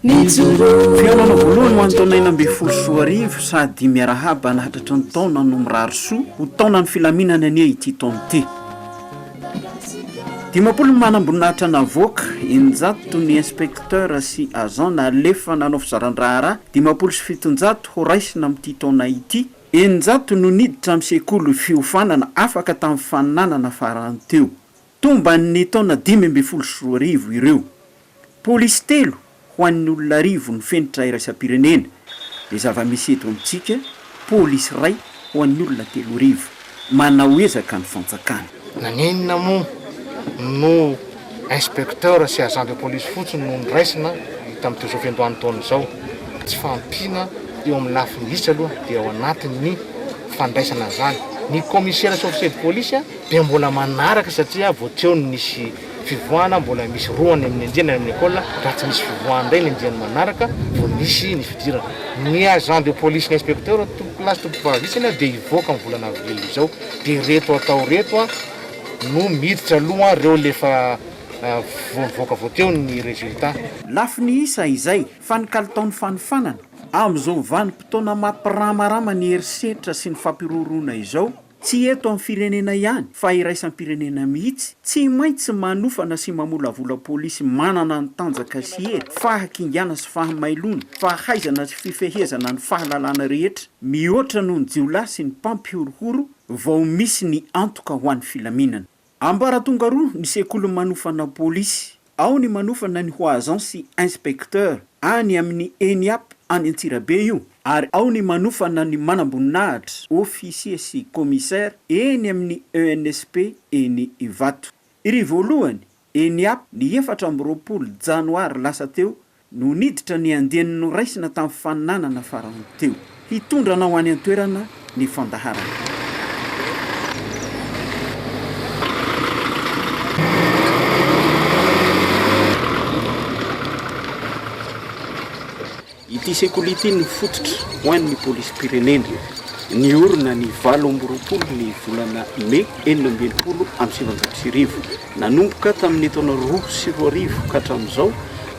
Mijoroa. Fihaonana voalohany ho an'ny taona enina ambin'ny folo sy roa arivo sady miarahaba nahatratra ny taona no mirary soa ho taonan'ny filaminana anie ity taona ity. Dimampolo ny manamboninahitra navoaka, eninjato ny inspecteur sy agent nalefa nanao fizaran-draharaha, dimampolo sy fitonjato horaisina amin'ity taona ity, eninjato no niditra amin'ny sekoly fiofanana afaka tamin'ny fananana farany teo. Tomban'ny taona dimy ambin'ny folo sy roa arivo ireo. Polisy telo ho an'ny olona arivo ny fenitra iraisam-pirenena. Dia zava-misy eto amintsika, polisy iray ho an'ny olona telo arivo. Manao ezaka ny fanjakana. Naninona moa no inspecteur sy agent de police fotsiny no noraisina tamin'ity zo fiandohan'ny taona izao? Tsy fahampiana eo amin'ny lafiny vitsy aloha dia ao anatin'ny fandraisana an'izany ny commissaire sy officier de police. dia mbola manaraka satria vao teo no nisy fivoahana, mbola misy roa any amin'ny andiany any amin'ny ecole, raha tsy misy fivoahana indray ny andiany manaraka vao nisy ny fidirana. Ny agent de police ny inspecteur tompoko lahy sy tompoko vavy isany an dia hivoaka ny volana avril izao dia ireto atao ireto an no miditra aloha an ireo le efa vao nivoaka vao teo ny resultat. Lafo ny isa izay fa ny kalitaon'ny fanofanana, amin'izao vanim-potoana mampiramarama ny herisetra sy ny fampiroroana izao, Tsy eto amin'ny firenena ihany fa iraisam-pirenena mihitsy, tsy maintsy manofana sy mamolavola polisy manana ny tanjaka sy hery, fahakingana sy fahamailoana, fahaizana sy fifehezana ny fahalalana rehetra, mihoatra noho ny jiolahy sy ny mpampihorohoro vao misy ny antoka ho an'ny filaminana. Ambaratonga roa ny sekoly manofana polisy, ao ny manofana ny ho agent sy inspecteur any amin'ny Eniap any Antsirabe io ary ao ny manofana ny manamboninahitra, officier sy commissaire, eny amin'ny ENSP eny Ivato. Iry voalohany, Eniap, ny efatra amby roapolo janoary lasa teo no niditra ny andiany noraisina tamin'ny faninanana farany teo. Hitondra anao any an-toerana ny fandaharana. Ity sekoly ity no fototra ho an'ny Polisim-pirenena. Niorina ny valo amby roapolo ny volana Mey enina amby enimpolo amby sivinjato sy arivo. Nanomboka tamin'ny taona roa sy roa arivo ka hatramin'izao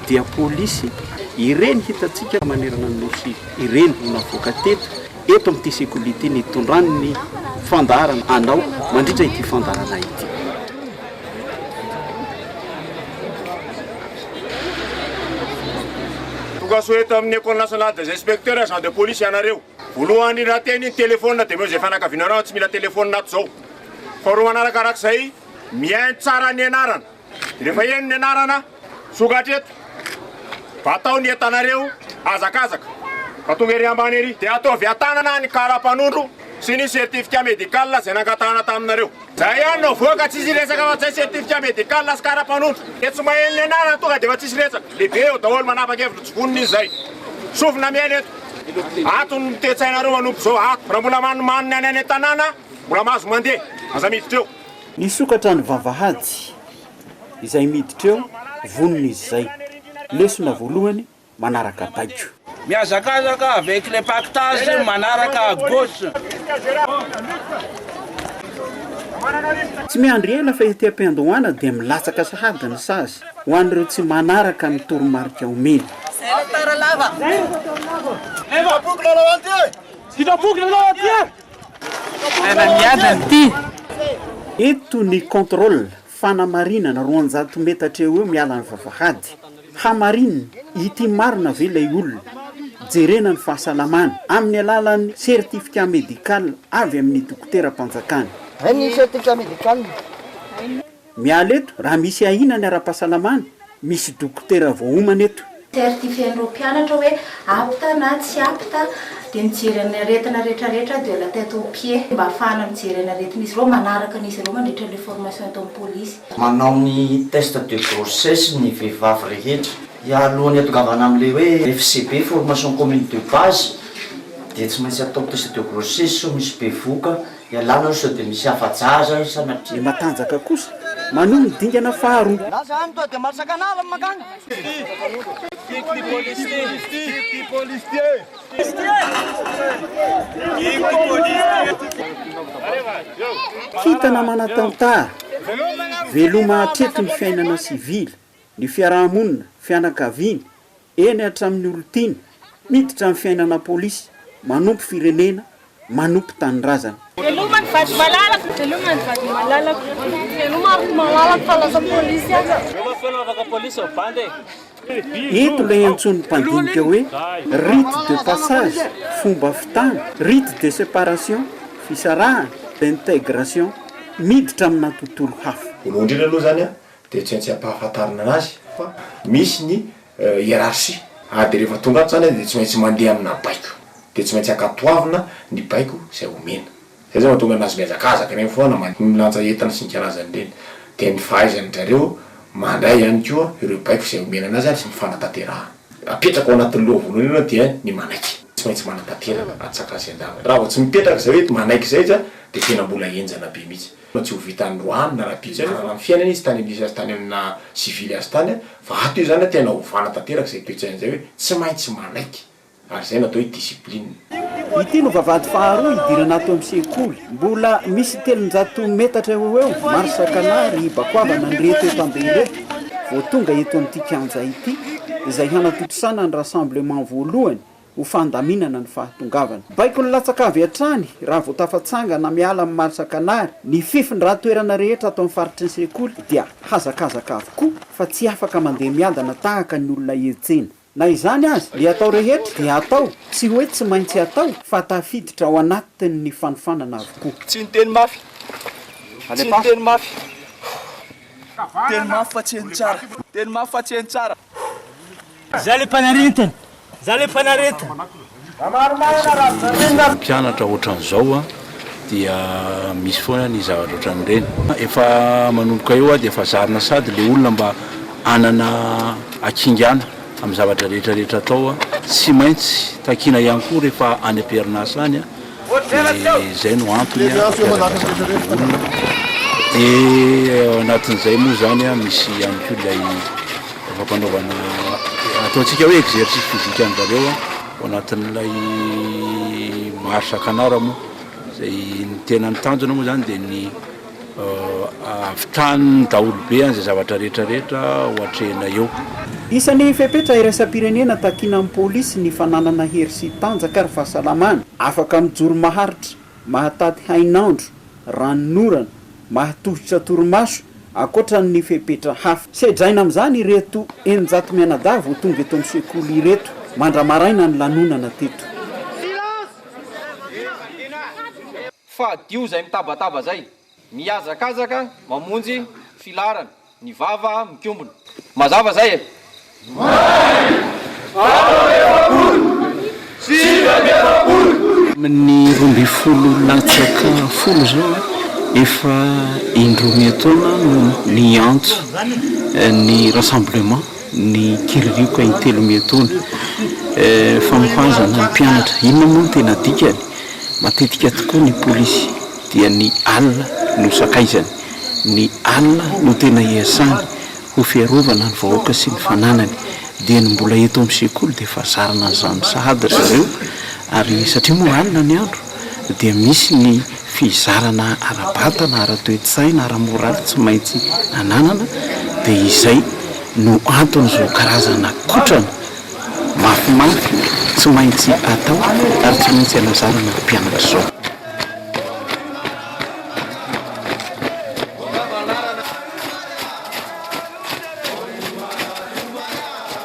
dia polisy ireny hitantsika manerana ny Nosy ireny no navoaka teto eto amin'ity sekoly ity nitondrany ny fandaharana hanao mandritra ity fandaharana ity. Tonga soa eto amin'ny Ecole Nationale des Inspecteurs agents de police ianareo. Voalohany raha te hanino telephone dia omeo izay fianakavianareo tsy mila telephone ato izao. Faharoa manaraka araka izay. Mihaino tsara ny anarana. Rehefa heno ny anarana, sokatra eto. Atao ny entanareo hazakazaka. Fa tonga ery ambany ery. Dia ataovy an-tanana ny kara-panondro sy ny certificat médical izay nangatahana taminareo. Izay ihany no avoaka, tsisy resaka fa izay certificat médical sy kara-panondro. Dia tsy maheno ny anarana tonga dia efa tsisy resaka. Lehibe eo daholo manapa-kevitra tsy vonona izy izay. Sofina mihaino eto. Ato ny toe-tsainareo manomboka izao ato. Raha mbola manimanina any any an-tanàna, Mbola mahazo mandeha, aza miditra eo. Nisokatra ny vavahady, izay miditra eo vonona izy izay. Lesona voalohany manaraka baiko. Mihazakazaka avec les pactages manaraka à gauche. Tsy miandry ela fa ety am-piandohana dia milatsaka sahady ny sazy ho an'ireo tsy manaraka ny toromarika omeny. Zay le tara lava. Sitrapo kilalao aty e! Sitrapo kilalao aty e! Eto ny contrôle, fanamarinana, roanjato metatra eo eo miala ny vavahady. Hamarinina, ity marina ve ilay olona? Jerena ny fahasalamany, amin'ny alalan'ny certificat médical avy amin'ny dokoteram-panjakana. Miala eto raha misy ahiana ny ara-pahasalamana, misy dokotera voaomana eto. Certifier an'ireo mpianatra hoe apte na tsy apte dia mijery ny aretina rehetra rehetra de la tête aux pieds mba hahafahana mijery ny aretin'izy ireo, manaraka an'izy ireo mandritra ilay formation ataon'ny polisy. Manao ny test de grossesse ny vehivavy rehetra. Hialohan'ny hatongavana amin'ilay hoe FCB, formation commune de base, dia tsy maintsy atao test de grossesse sao misy bevoka. Ialana aloha sao dia misy afa-jaza eo sanatria. Ny matanjaka kosa manohy ny dingana faharoa. Za zany tonga dia malatsaka anarany mankany. Kintana manatantara, veloma hatreto ny fiainana sivily. ny fiaraha-monina, fianakaviany, eny hatramin'ny olon-tiany, miditra amin'ny fiainana polisy, manompo firenena, manompo tanindrazana. Veloma ny vady malalako. Veloma ny vady malalako. Veloma ry malalako fa lasa polisy aza. Veloma feno afaka polisy ry bandy e. Eto ilay antsoin'ny mpandinika hoe rite de passage, fomba fitana, rite de séparation, fisarahana, d'intégration, miditra amina tontolo hafa. Voalohany indrindra aloha izany, Dia tsy maintsy ampahafantarina anazy fa misy ny hiérarchie. Ary dia rehefa tonga ato izany dia tsy maintsy mandeha amina baiko. Dia tsy maintsy ankatoavina ny baiko izay omena. Izay izao no mahatonga anazy mihazakazaka ireny foana mandeha milanja entana sy ny karazany ireny. Dia ny fahaizan-dry zareo mandray ihany koa ireo baiko izay omena anazy ary fanatanterahana. Apetraka ao anatin'ny loha voalohany aloha dia ny manaiky. Tsy maintsy manatanteraka atsak'azy an-davany. Raha vao tsy mipetraka izay hoe manaiky izay izy dia tena mbola henjana be mihitsy. Tena tsy ho vitan'i Roany na Rabeziarara ny fiainany izy tany indrisy azy tany amin'ny naha sivily azy tany fa ato izy zany tena ovana tanteraka izay toetsaina izay hoe tsy maintsy manaiky ary izay no atao hoe discipline. Ity no vavahady faharoa hidirana ato amin'ny sekoly. Mbola misy telonjato metatra eo ho eo, marsa canard, hibakoavana an'ireto eto am-be ireto vao tonga eto amin'ity kianja ity, izay hanatontosana ny rassemblement voalohany ho fandaminana ny fahatongavana. Baiko ny latsaka avy hatrany raha vao tafatsangana miala amin'ny Marsakanary, ny fifindran-toerana rehetra ato amin'ny faritry ny sekoly dia hazakazaka avokoa fa tsy afaka mandeha miadana tahaka ny olona hetsena. Na izany aza, ny atao rehetra dia atao, tsy hoe tsy maintsy atao, fa tafiditra ao anatin'ny fanofanana avokoa. Tsy niteny mafy. Tsy niteny mafy. Teny mafy fa tsy heno tsara. Teny mafy fa tsy heno tsara. Za le mpanaretana, za le mpanaretana. Mpianatra ohatran'izao a, dia misy foana ny zavatra ohatran'ireny. Efa manomboka eo a, dia efa zarina sady ilay olona mba hanana hakingana amin'ny zavatra rehetra rehetra atao a, tsy maintsy takiana ihany koa rehefa any am-perinasa any a. dia izay no antony hampiavaka izany olona, dia ao anatin'izay moa izany an misy ihany koa ilay fampanaovana ataontsika hoe exercice physique an-dry zareo an, ao anatin'ilay marche canard moa, izay ny tena ny tanjona moa izany dia ny. Ahavitany daholo be an izay zavatra rehetra rehetra ho atrehina eo. Isan'ny fepetra iraisam-pirenena takiana amin'ny polisy ny fananana hery sy tanjaka ary fahasalamana afaka mijoro maharitra, mahataty hainandro, ranonorana, mahatohitra torimaso, ankoatra ny fepetra hafa. Sedraina amin'izany ireto eninjato mianadahy vao tonga eto amin'ny sekoly ireto, mandra-maraina ny lanonana teto. Fa adio zay mitabataba zay. Mihazakazaka mamonjy filaharana. Ny vava mikombona. Mazava zay e. May! Valo amby efapolo! Sivy amby efapolo! Amin'ny roa ambin'ny folo latsaka folo izao, efa indroa miha-taona no niantso ny rassemblement. ny kiririoka intelo miatoana. Fanohazana ny mpianatra, inona moa no tena dikany? Matetika tokoa ny polisy dia ny alina no sakaizany, ny alina no tena iasany ho fiarovana ny vahoaka sy ny fananany. Dia ny mbola eto amin'ny sekoly dia efa zarina an'izany sahady ry zareo ary satria moa alina ny andro. dia misy ny fizarana ara-batana, ara-toe-tsaina, ara-moraly tsy maintsy ananana dia izay no anton'izao karazana kotrana mafimafy tsy maintsy atao ary tsy maintsy anazarana ny mpianatra izao.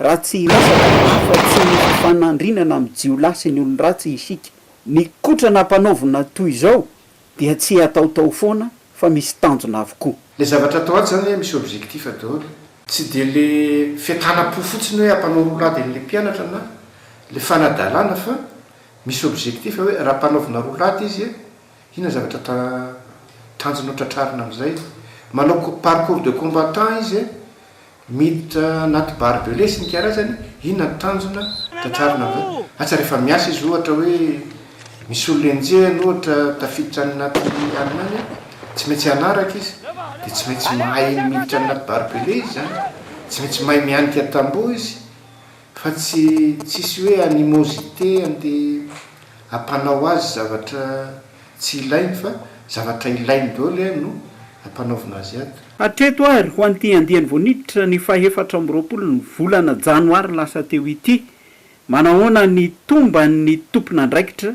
Raha tsy hiresaka afa-tsy ny fanandrinana amin'ny jiolahy sy ny olon-dratsy isika, ny kotrana ampanaovina toy izao dia tsy hataotao foana fa misy tanjona avokoa. Le zavatra atao ato zany hoe misy objectif daholo. Tsy dia le fiatanam-po fotsiny hoe hampanao rolady an'ilay mpianatra na le fanadalana fa misy objectif hoe raha ampanaovina rolady izy Inona zavatra ta tanjona ho tratrarina amin'izay? Manao ko parcours de combattant izy eh! Miditra anaty barbelé sy ny karazany, inona ny tanjona tratrarina amin'izay? Asa rehefa miasa izy ohatra hoe misy olona enjehiny ohatra tafiditra any anaty alina any, tsy maintsy hanaraka izy, dia tsy maintsy mahay miditra any anaty barbelé izy izany, tsy maintsy mahay mihanika tamboho izy, Fa tsy tsisy hoe animosité ande ampanao azy zavatra tsy ilainy fa zavatra ilainy daholo eh no ampanaovina azy ato. Hatreto ary ho an'ity andiany vao niditra ny fahefatra amby roapolo ny volana janoary lasa teo ity, manahoana ny tomban'ny tompon'andraikitra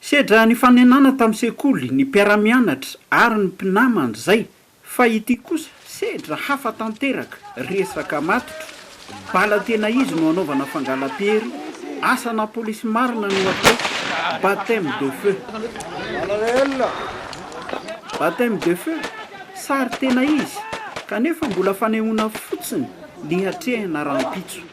Sedra nifanenana tamin'ny sekoly, ny mpiara-mianatra ary ny mpinamana izay, fa ity kosa sedra hafa tanteraka, resaka matotra, bala tena izy no anaovana fangalam-piery, asa na polisy marina no atao, baptême de feu. Baptême de feu, sary tena izy, kanefa mbola fanehoana fotsiny ny hatrehina rahampitso.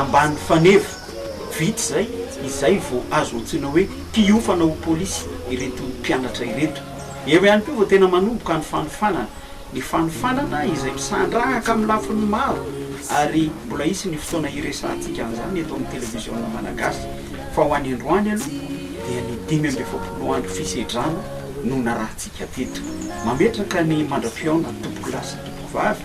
Ambany faneva, vita izay, izay vao azo antsoina hoe mpiofana ho polisy ireto mpianatra ireto. Eo ihany koa vao tena manomboka ny fanofanana. Ny fanofanana izay misandrahaka amin'ny lafiny maro ary mbola hisy ny fotoana hiresahantsika an'izany eto amin'ny televiziona malagasy fa ho any androany aloha dia ny dimy amby efapolo andro fisedrana no narahantsika teto. Mametraka ny mandra-pihaona tompokolahy sy tompokovavy.